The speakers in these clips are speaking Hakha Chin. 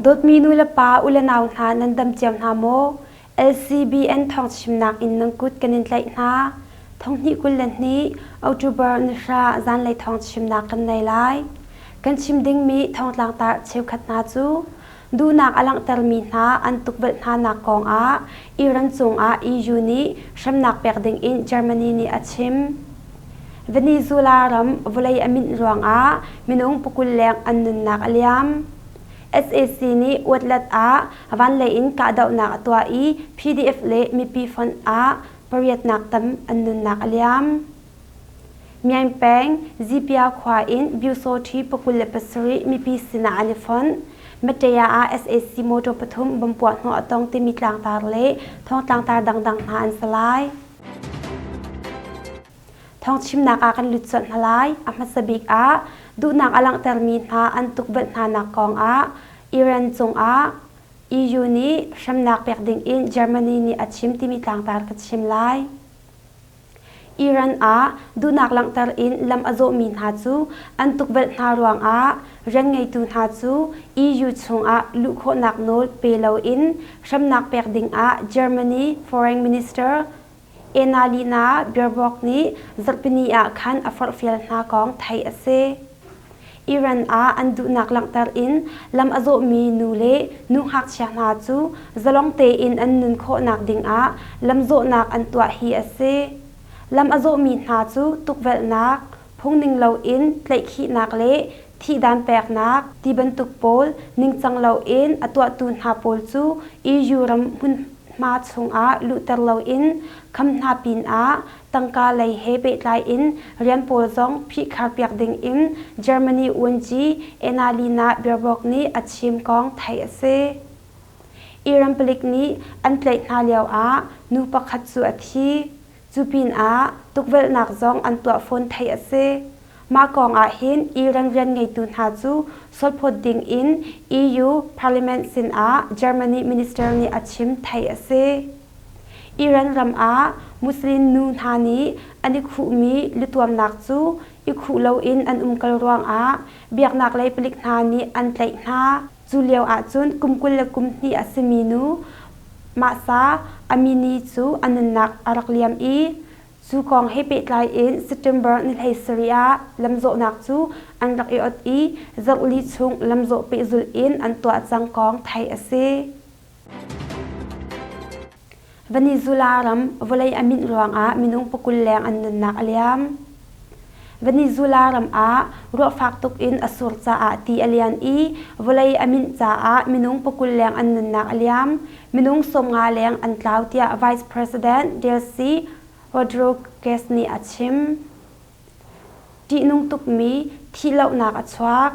Dawtmi nulepa u le nau hna nan dam cio hna maw? LCBN thawngchimnak in nan kut kan in tlaih hna. Thonghnih kul le hnih October nihra zanlei thawng chimnak kan nei lai. Kan chim dingmi thongtlangtar cheukhat hna cu Duhnak a langhtermi hna an tukvelh hnanak kongah Iran cungah EU nih hremnak pek dingin Germany nih a chim. Venezuela ram vawlei a minh ruangah minung pukul leng an nunnak a liam. SAC nih outlet ah vanlei in kahdohnak a tuah i PDF le mipi fonh ah pariatnak tam an nunnak a liam. Myaing peng Zipia khua in Byusawṭhi pakul le pasarih mipi sinah an i fonh. Mateya ah sac motor pathum bom puahhnawh a tong timi tlangtar le thawngtlangtar dangdang hna an sa lai. Thawng chimnak ah kan lut suat hna lai. A hmasa bik ah duhnak a langhtermi hna an tukvelh hnanak kong ah Iran cungah EU nih hremnak pek dingin Germany nih a chim timi tlangtar ka chim lai. Iran ah duhnak langhter in lam a zawhmi hna cu an tukvelh hna ruangah rian ngeitu hna cu EU chungah luh khawhnak nawl pe loin hremnak pek dingah Germany Foreign Minister Annalena Baerbock nih zarhpini ah khan a forhfial hna kong theih a si. Iran ah an duhnak langhter in lam a zawhmi nu le nu ngakchia hna cu zalong tein an nun khawhnak dingah lamzawhnak an tuah hi a si. Lam a zawhmi hna cu tukvelhnak, phungning loin tlaihkhihnak le thihdan peknak ti bantuk pawl ningcang loin a tuahtu hna pawl cu EU ram hmunhma chungah luhter loin kham hna pinah Tangka lei he pehtlai in rian pawl zong phihkharpiak ding in Germany uanci Annalena Baerbock nih a chim kong theih a si. Iran palik nih an tlaih hna lio ah nu pakhat cu a thi. Cu pinah tukvelhnak zong an tuah fawn theih a si. Mah kong ahhin Iran rianngeitu hna cu solphawt ding in EU Parliament sinah Germany minister nih a chim theih a si. Iran ram ah Muslim nu hna nih an i khuhmi lutuamnak cu i khuh loin an umkal ruangah biaknaklei palik hna nih an tlaih hna. Cu lio ahcun kum kul le kum hnih a simi nu Mahsa Amini cu a nunnak a rak liam i cu kong he pehtlai in September ni hleisarih ah lamzawhnak cu an rak i ot i zohli chung lamzawh pehzulh in an tuah cang kong theih a si. Venezuela ram vawlei a minh ruangah minung pakul leng an nunnak a liam. Venezuela ram ah ruah fak tuk in a sur caah ti a lian i vawlei a minh caah minung pakul leng an nunnak a liam. Minung sawmnga leng an tlau tiah Vice President Delcy Rodriguez nih a chim. Ṭihnung tukmi thihlohnak a chuak.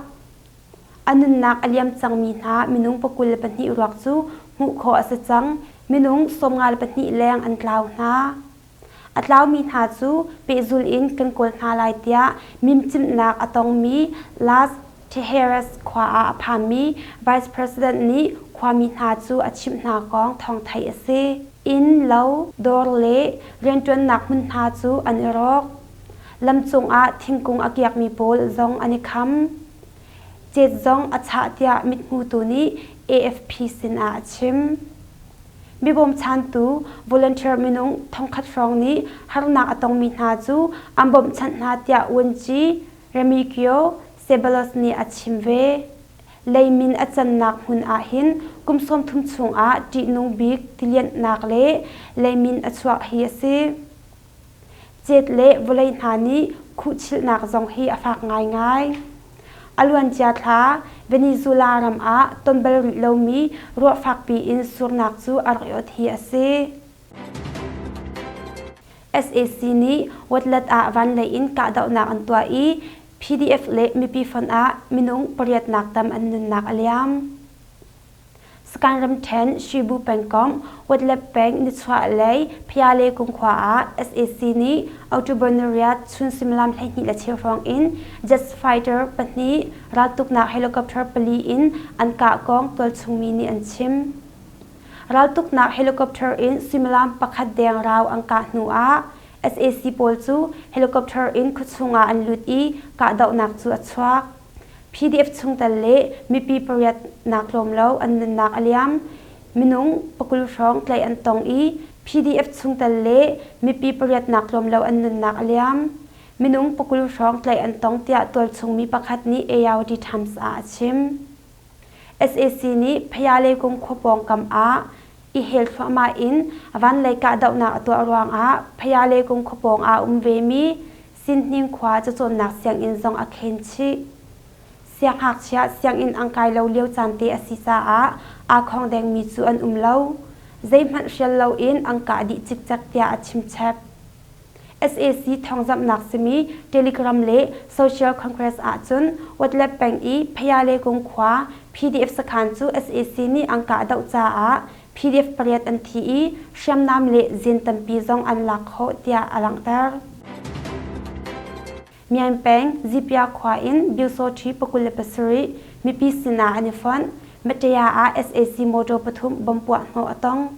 A nunnak a liam cangmi hna minung pakul le pahnih ruak cu hmuh khawh a si cang. Minung sawmnga le pahnih leng an tlau hna. A tlaumi hna cu pehzul in kan kawl hna lai tiah mimcimhnak a tongmi Las Tejeras khua ah a phanmi Vice President nih khuami hna cu a chimh hna kong thawngthai a si. Inn, lo, dawr le rianṭuannak hmun hna cu an i rawk. Lam cungah thingkung a kiakmi pawl zong an i kham. Cet zong a chah tiah mithmutu nih AFP sinah a chim. Mibawmchantu volunteer minung thongkhat hrawng nih harnak a tongmi hna cu an bawmhchanh hna tiah uanci Remigio Ceballos nih a chim ve. Leimin a cannak hmun ahhin kum sawmthum chungah ṭihnung bik tilianhnak le leimin a chuah hi a si. Cet le vawlei hna nih khuhchilhnak zong hi a fak ngaingai. A luancia thla Venezuela ram ah ton bal rih lomi ruah fakpi in surnak cu a rak iawt hi a si. SAC nih Watlet ah vanlei in kahdohnak an tuah i PDF le mipi fonh ah minung pariatnak tam an nunnak a liam. Sakhan ramṭhen Shibu pengkomh Wetlet peng nichuahlei Phayale kumkhua ah sac nih October nariat chun suimilam hleihnih le cheu hrawng in jet fighter pahnih raltuknak helicopter pali in an kah kong tualchungmi nih an chim. Raltuknak helicopter in suimilam pakhat deng rau an kah hnu ah sac pawl cu helicopter in khuachung ah an lut i kahdohnak cu a chuak. PDF chungtel le mipi pariat nak tlawm lo an nunnak a liam. Minung pakul hrawng tlaih an tong i PDF chungtel le mipi pariat nak tlawm lo an nunnak a liam. Minung pakul hrawng tlaih an tong tiah tualchungmi pakhat nih ARD Times ah a chim. SAC nih Phayale kung khua pawngkam ah i hel thluahmah in vanlei kahdohnak a tuah ruangah Phayale kung khua pawng ah um vemi Sinhning khua cacawnnak sianginn zong a khen chih. Sianghngakchia sianginn ang kai lo lio caan te a si caah aa khawng dengmi cu an um lo. Zeihmanh hrial loin an kah dih cikcek tiah a chimchep. sac thawngzamhnak simi Telegram le Social Congress ahcun Watlet peng i Phayale kung khua PDF sakhan cu sac nih an kah deuh caah PDF pariat an thi i hriamnam le zin tampi zong an lak khawh tiah a langhter. Myan peng Zipya khua in Byusawṭhi pakul le pasarih mipi sinah an i fonh, Matea ah sac motor pathum bomb puah hnawh a tong.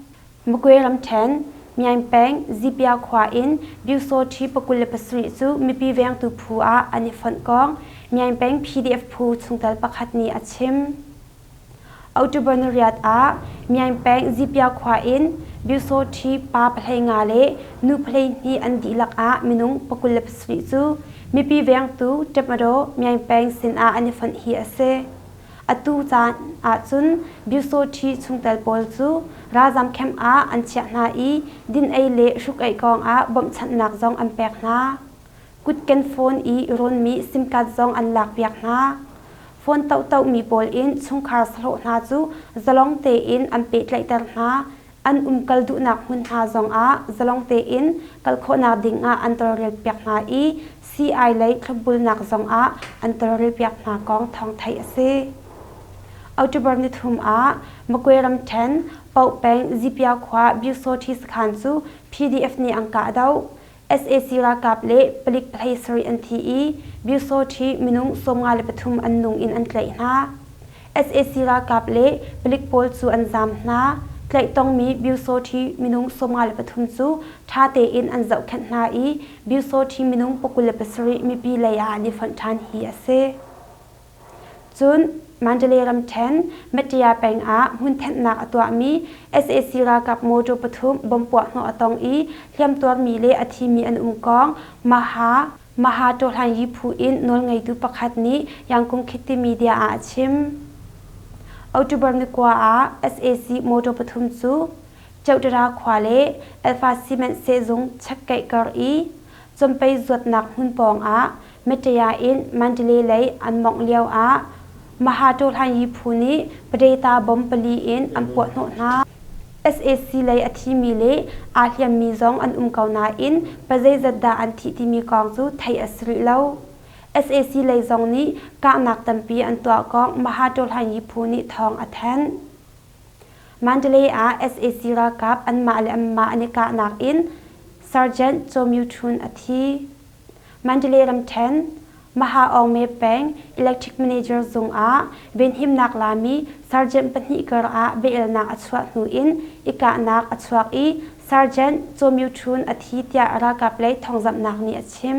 Magway ramṭhen Myan peng Zipya khua in Byusawṭhi pakul le pasarih cu mipi vengtu phu ah an i fonh kong Myan peng PDF phu chungtel pakhat nih a chim. October ni riat ah Myaing peng Zipia khua in Byusawṭhi pa pahlei nga le nu pahlei hnih an dihlak ah minung pakul le pasarih cu mipi vengtu ṭepmadaw Myaing peng sinah an i fonh hi a si. Atu caan ahcun Byusawṭhi chungtel pawl cu ralzam camp ah an chiah hna i din ei le hruk ei kong ah bawmhchanhnak zong an pek hna. Kut ken phone i rawnmi sim card zong an lakpiak hna. Phone tohtohmi pawl in chungkhar sahlawh hna cu zalong tein an pehtlaihter hna, an umkal duhnak hmun hna zongah zalong tein kal khawhnak dingah an tawlrelpiak hna i sii-ai lei thlopbulnak zongah an tawlrelpiak hna kong thawng theih a si. October nithum ah Magway ramṭhen Paoh peng Zipyau khua Byiksawṭhi sakhan cu PDF nih angka a doh. sac ralkap le palik pahhlei sarih an thi i Byusawṭhi minung sawmnga le pathum an nung in an tlaih hna. sac ralkap le palik pawl cu an zaam hna. Tlaih tongmi Byusawṭhi minung sawmnga le pathum cu ṭha tein an zohkhenh hna i Byusawṭhi minung pakul le pasarih mipi lei ah an i fonh ṭhan hi a si. Cun Mandalay ramṭhen Matea peng ah hmunthenhnak a tuahmi sac ralkap motor pathum bomb puahhnawh a tong i hliamtuarmi le a thimi an um kong Maha Mahatohlanyi phu in nawlngeitu pakhat nih Yangkung Khiti media ah a chim. October ni kua ah sac motor pathum cu Chowdhury khua le Alfa Cement sehzung chekkeih kar i Campei zuatnak hmun pawngah Mtea in Mandalay lei an mawngh lioah Mahato Hlanyi phu nih Padaita bomb pali in an puahhnawh hna. Sac lei a thimi le aa hliammi zong an um ko nain pazeizat dah an thih timi kong cu theih a si rih lo. Sac lei zong nih kahnak tampi an tuah kong Mahato Hlanyi phu nih thawng a thanh. Mandalay ah sac ralkap anmah le anmah an i kahnak in Sergeant Cho Myu Chun a thi. Mandalay ramṭhen Maha Aung Mae peng electric manager zung ah venhimnak lami sergeant pahnih kar ah biaelnak a chuah hnu in i kahnak a chuak i Sergeant Cho Myu Chun a thi tiah ralkap lei thawngzamhnak nih a chim.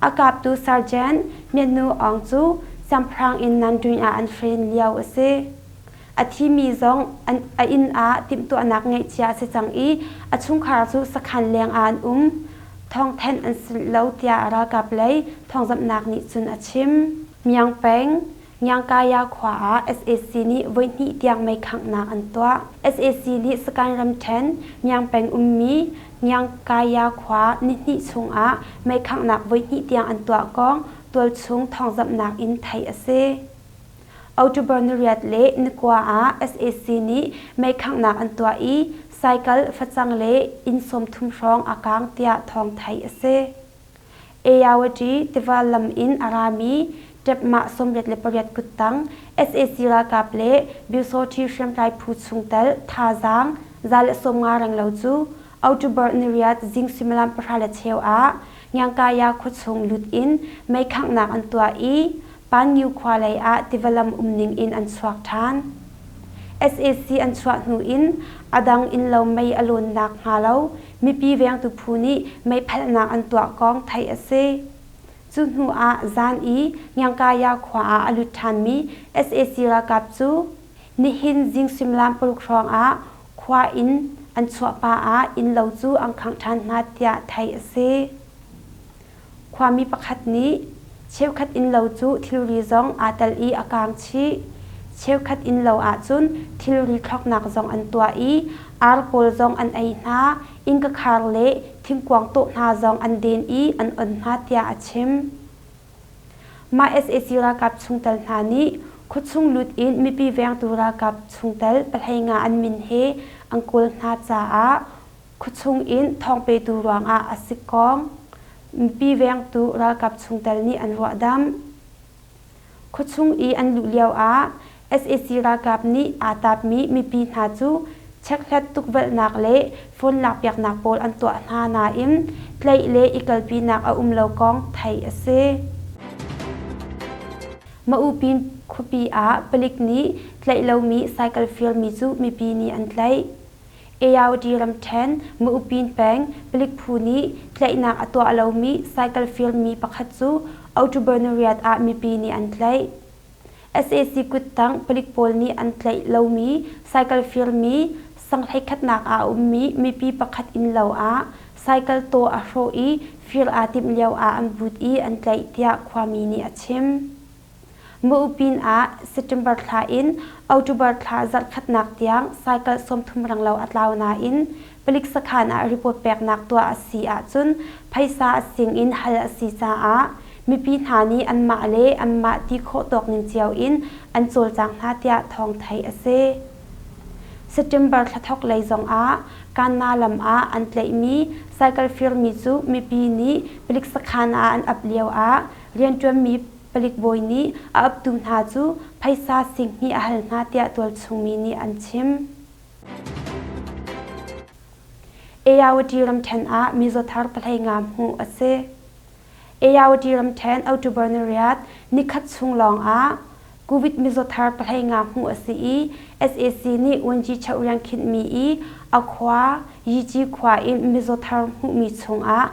A kaptu sergeant Myatnu Aung cu siangpahrang in Nantuin ah an friend lio a si. A thimi zong a inn ah timhtuahnak ngeihcia a si cang i a chungkhar cu sakhan leng ah an um. Thawngthenh an si lo tiah a ralkap lei thawngzamhnak nih cun a chim. Myang Peng, Nyangkaya khua ah sac nih voihnih tiang meikhanghnak an tuah. Sac nih Sakaing ramṭhen Nyang peng ummi Nyangkaya khua nihnih chungah meikhanghnak voihnih tiang an tuah kong tualchung thawngzamhnak in theih a si. October nariat le nikua ah sac nih meikhanghnak an tuah i cycle facang le inn sawmthum hrawng a kaang tiah thawng theih a si. Ayawati tiva lam in a rami Tepmah sawmriat le pariat kuttang sac ralkap le Byusawṭhi hriamtlai phu chungtel thazaang za le sawmnga renglo cu October niriat zing suimilam pahra le cheu ah Ngiangkaya khuachung lut in meikhanghnak an tuah i Panggyu khua lei ah tiva lam umning in an chuak ṭhan. sac an chuah hnu in a dang innlo mei a lawn nakhnga lo mipi vengtu phu nih meiphalhnak an tuah kong theih a si. Cu hnu ah zan i Ngiangkaya khua ah a lut ṭhanmi sac ralkap cu nihin zing suimilam paruk hrawng ah khua in an chuah pah ah innlo cu an khangh ṭhan hna tiah theih a si. Khuami pakhat nih cheukhat innlo cu thilri zong aa tel i a kaang chih. Cheukhat innlo ahcun thilri thlawknak zong an tuah i ar kawl zong an ei hna, innkakhar le thingkuang tawh hna zong an den i an on hna tiah a chim. Mah sac ralkap chungtel hna nih khuachung lut in mipi vengtu ralkap chungtel pahleinga an min he an kawl hna caah Khuachung in thawngpetu ruangah a sikkawng mipi vengtu ralkap chungtel nih an ruahdamh. Khuachung i an luh lioah sac ralkap nih aa tapmi mipi hna cu checkhlat tukvelhnak le phone lakpiaknak pawl an tuah hna nain tlaih le i kalpinak a um lo kong theih a si. Maupin khuapi ah palik nih tlaih lomi cycle firmi cu mipi nih an tlaih. Ayawdy ramṭhen, Mu'upin peng, palik phu nih tlaihnak a tuah lomi cycle firmi pakhat cu October ni riat ah mipi nih an tlaih. sac kuttang palik pawl nih an tlaih lomi cycle firmi sanghlei-khatnak ah a ummi mipi pakhat innlo ah cycle taw a hrawh i fir aa timh lio ah an but i an tlaih, tiah khuami nih a chim. Ma'upin ah September thla in October thla zarhkhatnak tiang cycle sawmthum ranglo a tlau nain palik sakhan ah report peknak tuah a si ahcun phaisa sing in hal a si caah mipi hna nih anmah le anmah ti khawh tawkning cio in an cawlcang hna tiah thawng theih a si. September thla thawk lei zongah Kanna lam ah an tlaihmi cycle firmi cu mipi nih palik sakhan ah an ap lio ah rianṭuanmi Palik bawi nih a uptu hna cu phaisa singhnih a hal hna tiah tualchungmi nih an chim. Ayawati ramṭhen ah mizaw thar pahlei nga hmuh a si. Ayawati ramṭhen October nariat nikhat chung lawng ah Covid mizaw thar pahlei nga hmuh a si i sac nih Wanji cheu riang khinhmi i a khua Yici khua in mizaw thar hmuhmi chungah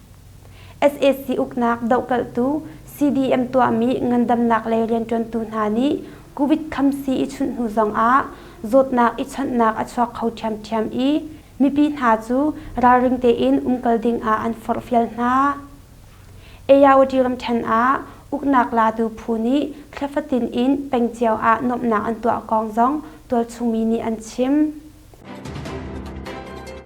sac uknak dohkalhtu cdm tuahmi ngandamnak lei rianṭuantu hna nih covid khamsi i chunh hnu zongah zawtnak i chawnhnak a chuak kho ṭhiamṭhiam i mipi hna cu ralring tein umkal dingah an forhfial hna. Ayawati ramṭhen ah uknak latu phu nih thlefatin in pengcio ah nuamhnak an tuah kong zong tualchungmi nih an chim.